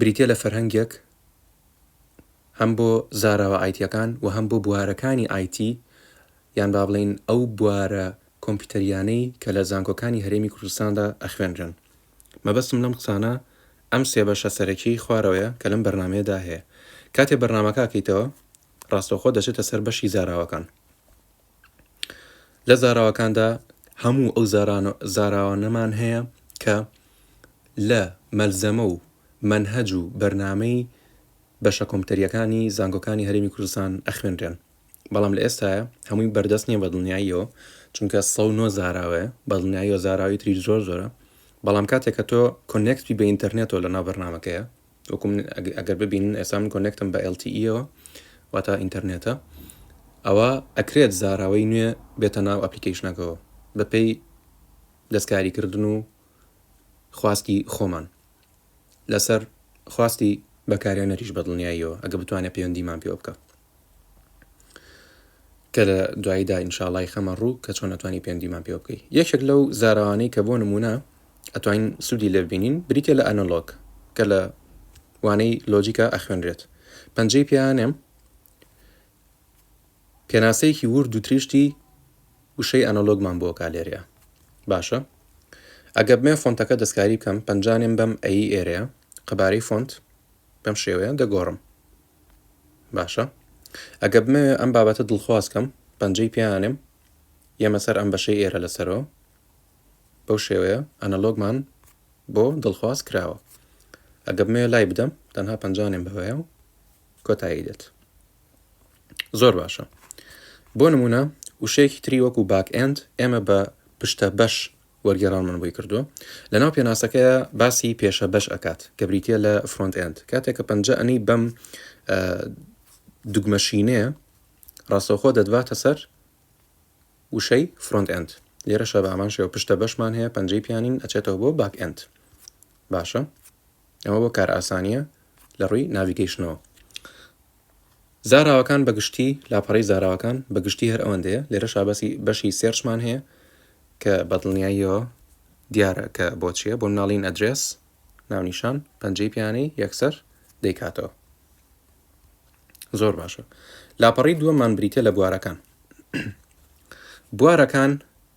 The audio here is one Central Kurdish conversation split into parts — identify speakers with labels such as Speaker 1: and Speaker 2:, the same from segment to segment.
Speaker 1: بریتیە لە فەرهەنگێک هەم بۆ زاراوە ئایتیەکان و هەم بۆ بوارەکانی ئایتی یان با بڵێین ئەو بوارە کۆمپیوتەریانەی کە لە زانکۆکانی هەرێمی کوردستاندا ئەخوێنرێن. مەبەستم لەم قسانە ئەم سێ بەشە سەرەکیەی خوارەوەیە کە لەم بەرنامەیەدا هەیە. کاتێ بەرنامەکە ئەکەیتەوە ڕاستەوخۆ دەچێتە سەر بەشی زاراوەکان. لە زاراوەکاندا هەموو ئەو زاراوانەمان هەیە کە لە مەلزەمە و مەنهەج و بەرنامەی بەشە کۆمپیوتەریەکانی زانکۆکانی هەرێمی کوردستان ئەخوێنرێن بەڵام لە ئێستاە هەمووی بەردەست نییە بەدڵنیاییەوە چونکە سە نۆ زاراوەیە بەدڵنیاییەوە زاراوی تری زۆر زۆرە بەڵام کاتێکە تۆ کۆنێکتی بە ئینتەرنێتەوە لە ناو بەرنمەکەیە وەکو من ئەگەر ببینن ئێستا من کۆنێکتم بە LTE یەوە واتا ئینتەرنێتە ئەوە ئەکرێت زاراوەی نوێ بێتە ناو ئەپلیکیشنەکەەوە بەپی دەستکاریکردن و خواستی خۆمان لەسەر خواستی بەکارێنەریش بەدڵنیاییەوە ئەگە بتوانێت پەیوەندیمان پێوە بکە کە لە دواییدا ئینشاڵای خەمە ڕوو کە چۆن ئەتوانی پەیوەندیمان پێوە بکەی یەکێک لەو زاراوانەی کە بۆ نمونە ئەتوانین سوودی لێ ببینین بریتە لە ئەنەلۆگ کە لە وانەی لۆجیکا ئەخوێنرێت پەنجەی پیانێم پێناسەیەکی ورد و تریشتی وشەی ئەنەلۆگمان بۆ کالێرەیە باشە ئەگە بمێ فۆنتەکە دەستکاری بکەم پەنجانێم بەم ئەی ئێرەیە قەبارەی فۆنت بەم شێوەیە دەگۆڕم باشە ئەگە بمەوێ ئەم بابەتە دڵخواز کەم پەنجەی پیانێم یەمە سەر ئەم بەشەی ئێرە لەسەرەوە بەو شێوەیە ئەنەلۆگمان بۆ دڵخواز کراوە ئەگە بمەوێ لای بدەم تەنها پەنجانێم بەوەیە و کۆتایی دێت زۆر باشە بۆ نمونە وشەیەکی تری وەکو باک ئەند ئێمە بە پشتە بەش وەرگێڕانمان بۆی کردووە لەناو پێناسەکەیا باسی پێشە بەش ئەکات کە بریتە لە فرۆنت ئەند کاتێک کە پەنجە ئەنەی بەم دوگمەشینەیە ڕاستەوخۆ دەدباتە سەر وشەی فرۆنت ئەند لێرە شە بامان شێوە پشتە بەشمان هەیە پەنجەی پیانین ئەچێتەوە بۆ باک ئەند باشە ئەمە بۆ کار ئاسانیە لە ڕووی ناویگەیشتنەوە زاراوەکان بە گشتی، لاپەڕەی زاراوەکان بە گشتی هەر ئەوەندەیە، لێرەشا باسی بەشی سێرچمان هەیە کە بە دڵنیاییەوە دیارە کە بۆ چییە، بۆ مناڵی in address، ناونیشان، پەنجەی پێیانەی، یەکسەر، دەیکاتەوە. زۆر باشە. لاپەڕەی دووەممان بریتییە لە بوارەکان. بوارەکان.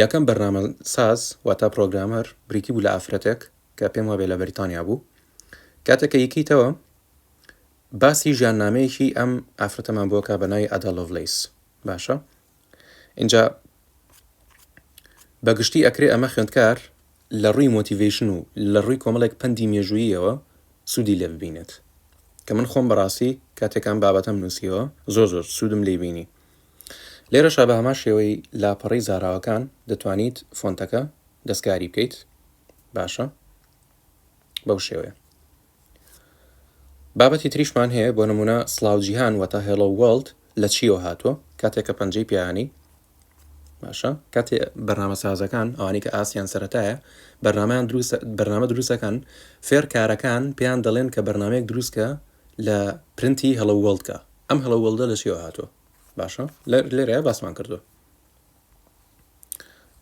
Speaker 1: یەکەم بەرنامە ساز واتا پرۆگرامەر بریتی بوو لە ئافرەتێک کە پێم وابێ لە بەریتانیا بوو کاتێک کە یکیتەوە باسی ژیاننامەیەکی ئەم ئافرەتەمان بۆ کا بە ناوی ئەدا لۆڤلیس باشە اینجا بەگشتی ئەکرێ ئەمە خوێندکار لە ڕووی مۆتیڤیشن و لە ڕووی کۆمەڵێک پەندی مێژووییەوە سوودی لێ ببینێت کە من خۆم بەڕاستی کاتێکان بابەتەم نووسیەوە زۆر زۆر سوودم لی بینی لێرەشا بە هەمان شێوەی لاپەڕەی زاراوەکان دەتوانیت فۆنتەکە دەستکاری بکەیت باشە بەو شێوەیە بابەتی تریشمان هەیە بۆ نمونە سلااو جیهان وەتا هێڵۆ وڵد لە چیەوە هاتووە کاتێکە پەنجەی پیانی باشە کاتێ بەرنامە سازەکان ئەوانی کە ئاسیان سەتایە بەرنمەیان دروست بەرنامە دروستەکان فێرکارەکان پێیان دەڵێن کە بەرنمەیەک دروستکە لە پرنتی هەڵە وڵدکە ئەم هەڵە وەڵدە لە چیەوە هاتووە باشە لێرەیە باسمان کردووە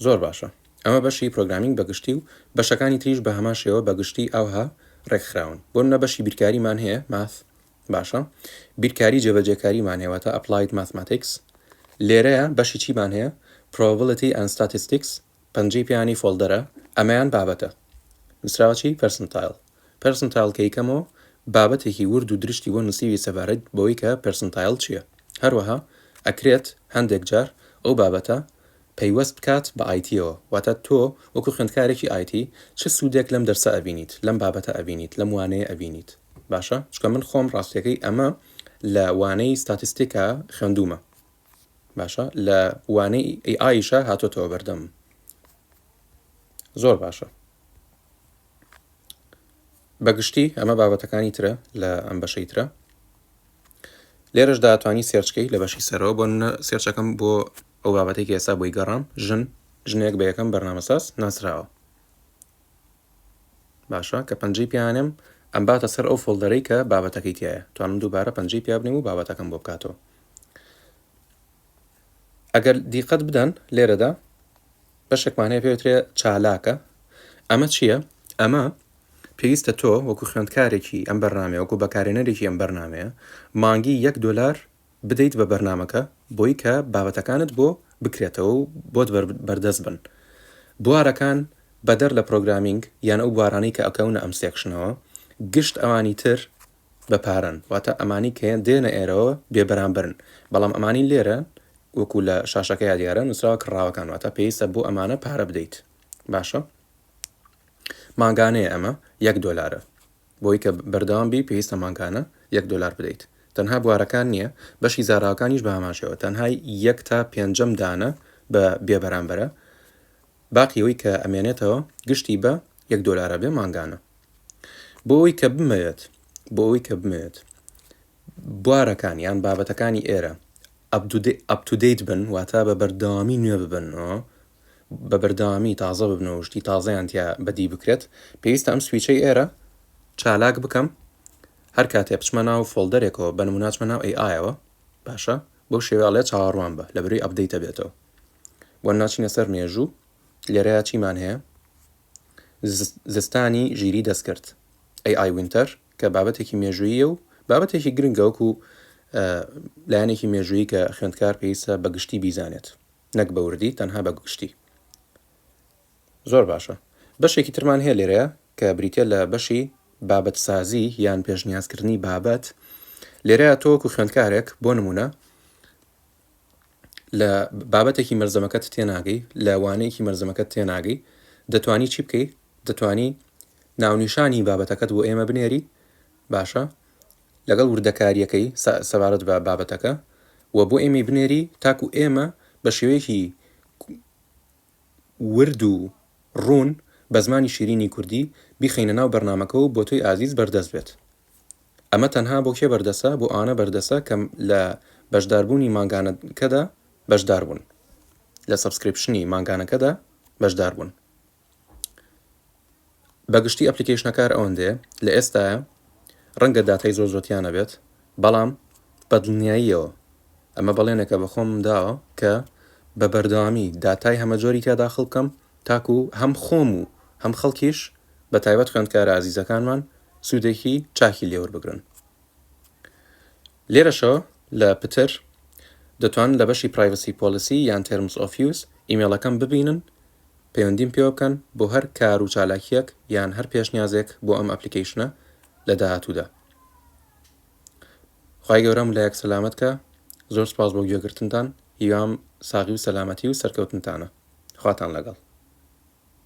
Speaker 1: زۆر باشە ئەمە بەشی پرۆگرامینگ بەگشتی و بەشەکانی تریش بە هەمان شێوە بەگشتی ئەوها ڕێکخراون بۆ نە بەشی بیرکاریمان هەیە ماث باشە بیرکاری جێبەجێکاریمان هەیە تا ئەپلایت ماثماتیکس لێرەیە بەشی چیمان هەیە probability and statistics پەنجەی پێیانی فۆڵدەرە ئەمەیان بابەتە نوسراوەچی پێرسنتایڵ پێرسنتایڵ کە یکەمۆ بابەتێکی ورد و درشتی بۆ نوسیوی سەبارەت بەوەی کە پێرسنتایڵ چیە هەروەها ئەکرێت هەندێک جار ئەو بابەتە پەیوەست بکات بە ئایتیەوە واتە تۆ وەکو خوێندکارێکی ئایتی چ سودێک لەم دەرسە ئەبینیت لەم بابەتە ئەبینیت لەم وانەیە ئەبینیت باشە چکە من خۆم ڕاستەکەی ئەمە لە وانەی ستاتیستیکا خوێندومە باشە لە وانەی ئی ئایشە هاتۆتەوە بەردەم زۆر باشە بەگشتی ئەمە بابەتەکانی ترە لە ئەم بەشەی ترە لێرەش داتوانانی سێرچکەی لە بەشی سەرەوە بۆ سێرچەکەم بۆ ئەو بابەتێکی ئێستا بۆی گەڕام ژن ژنێک بە یەکەم بەرنامەساز ناسراوە باشە کە پەنجەی پیانم ئەم باتە سەر ئەو فۆلدەرەی کە بابەتەکەی تایە توانم دووبارە پەنجەی پیا بنێم و بابەتەکەم بۆ بکاتەوە ئەگەر دیقەت بدەن لێرەدا بەشێکمان هەیە پێوترێ چالاکە ئەمە چییە؟ ئەمە پێویستە تۆ وەکو خوێندکارێکی ئەم بەرنمەیە وەکو بەکارێنەرێکی ئەم بەرنمەیە مانگی یەک دلار بدەیت بە بەرنمەکە بۆی کە بابەتەکانت بۆ بکرێتەوە و بۆت بەردەست بن بوارەکان بەدەر لە پرۆگرامینگ یان ئەو بوارانەی کە ئەکەونە ئەم سێکشنەوە گشت ئەوانی تر بە پارەن واتە ئەمانی کە دێنە ئێرەوە بێ بەرامبەرن بەڵام ئەمانی لێرە وەکو لە شاشەکەیا دیارە نوسراوە کڕاوەکان واتە پێویستە بۆ ئەمانە پارە بدەیت باشە مانگانەیە ئەمە یەک دۆلارە بۆی کە بەردەوام بی پێویستە مانگانە یەک دۆلار بدەیت تەنها بوارەکان نییە بەشی زاراوەکانیش بە هەماشەوە تەنهای یەک تا پێنجەم دانە بە بێبەرامبەرە باقیەوەی کە ئەمێنێتەوە گشتی بە یەک دۆلارە بێ مانگانە بۆ ئەوەی کە بمەوێت بۆ ئەوەی کە بمەوێت بوارەکان یان بابەتەکانی ئێرە ئەپتودەیت بن واتا بە بەردەوامی نوێ ببنەوە بە بەردەوامی تازە ببنەوە شتی تازەیان تیا بەدی بکرێت پێویستە ئەم سویچەی ئێرە چالاک بکەم هەر کاتێ بچمە ناو فۆلدەرێکەوە بە نموناچمە ناو ئەی ئایەوە باشە بەو شێواڵێ چاوەڕوان بە لە بروی ئەبدەیتە بێتەوە بۆ ناچینە سەر مێژوو لێرەیە چیمان هەیە زستانی ژیریی دەستکرد، AI Winter، کە بابەتێکی مێژووییە و بابەتێکی گرنگە وەکو لایەنێکی مێژوویی کە خوێندکار پێویستە بە گشتی بیزانێت نەک بە وردی تەنها بە گشتی زۆر باشە بەشێکی ترمان هەیە لێرەیە کە بریتە لە بەشی بابەت سازی یان پێشنیازکردنی بابەت لێرە تۆکو خوێندکارێک بۆ نمونە لە بابەتێکی مەرزەمەکەت تێناگەی لە وانەیەکی مەرزەمەکەت تێناگەی دەتانی چی بکەی دەتانی ناونیشانی بابەتەکەت بۆ ئێمە بنێری باشە لەگەڵ وردەکاریەکەی سەبارەت بە بابەتەکە و بۆ ئێمەی بنێری تاکو ئێمە بە شێوەیەکی ورد و ڕوون بە زمانی شیرینی کوردی بیخەینە ناو بەرنامەکە و بۆ تۆی ئازیز بەردەست بێت ئەمە تەنها بۆ کێ بەردەسە بۆ ئەوانە بەردەسە کە لە بەشدار بوونی مانگانەکەدا بەشدار بوون لە سەبسکریپشنی مانگانەکەدا بەشدار بوون. بە گشتی ئەپلیکەیشنە کار ئەوەندەیە لە ئێستایە ڕەنگە داتای زۆر زۆر تیا نەبێت بەڵام بە دڵنیاییەوە ئەمە بەڵێنێکە بە خۆم داوە کە بە بەردەوامی داتای هەمە جۆری تیا داخڵ بکەم تاکو هەم خۆم و هەم خەڵکیش بە تایبەت خوێندکارە ئازیزەکانمان سوودێکی چاکی لێوەربگرن لێرەشەوە لە پتر دەتوانن لە بەشی پرایڤسی پۆلیسی یان تێرمس ئۆف یوز ئیمێڵەکەم ببینن پەیوەندیم پێوە بکەن بۆ هەر کار و چالاکیەک یان هەر پێشنیازێک بۆ ئەم ئەپلیکەیشنە لە داهاتوودا خی گەورەم لایەک سەلامت کە زۆر سپاس بۆ گوێگرتنتان هیوام ساغی و سەلامەتی و سەرکەوتنتانە خواتان لەگەڵ